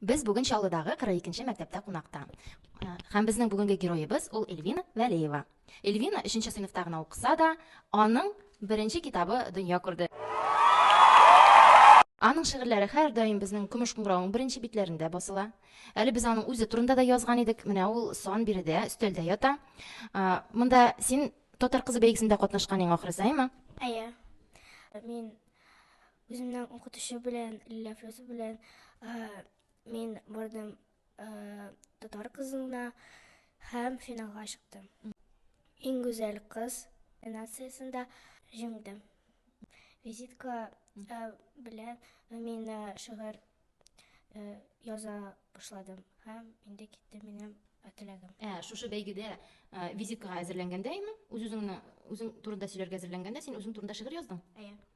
Без бүген Чаллыдагы 42 нче мәктәптә кунакта. Э, һәм безнең бүгенге героебыз ул Эльвина Вәлеева. Эльвина 3 нче сыйныфта гына укыса да, аның беренче китабы дөнья күрде. Аның шигырьләре һәрдаим безнең Көмеш куңгыравың беренче битләрендә басыла. Әле без аның үзе турында да язган идек. Менә ул сан биредә, өстәлдә ята. Э, монда син Татар кызы бәйгесендә катнашкан иң ахрысаймы? Әйе. Мин Үземнең укытучы белән, Лилия Флюсов белән мин бардым татар кызына һәм финалга чыктым. Иң гүзәл кыз номинациясендә җиңдем. Визитка белән мин шигырь яза башладым һәм инде китте минем теләгем. Ә шушы бәйгедә визиткага әзерләнгәндә, имин, үз-үзеңне, үзең турында сөйләргә әзерләнгәндә, син үзең турында шигырь яздың? Әйе.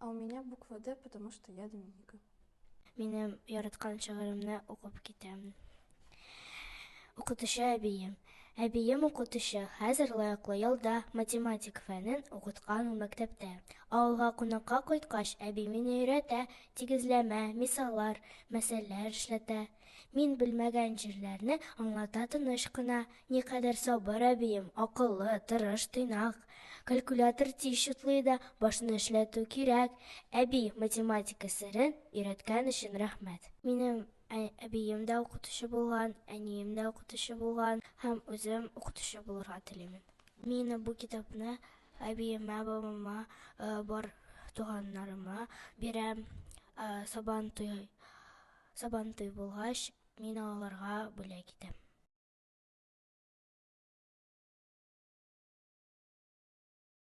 А у меня буква Д, потому что я Доминика. Минем яраткан шигыремне укып китәм. Укытучы әбием. Әбием укытучы, хәзер лаеклы ялда математик фәнен укыткан ул мәктәптә. Авылга кунакка кайткач, әби мине өйрәтә, тигезләмә, мисаллар, мәсьәләләр эшләтә. Мин белмәгән җирләрне аңлата тыныч кына. Никадәр сабыр әбием, акыллы, тырыш, тыйнак. Калькулятор тиз чутлый да, башны эшләтү кирәк. Әби, математика серен өйрәткән өчен рәхмәт. Минем әбием дә укытучы булган, әнием дә укытучы булган һәм үзем укытучы булырга телим. Мин бу китапны әбиемә, бабама, бар туганнарыма бирәм, Сабантуй Сабантуй булгач, мин аларга бүләк итәм.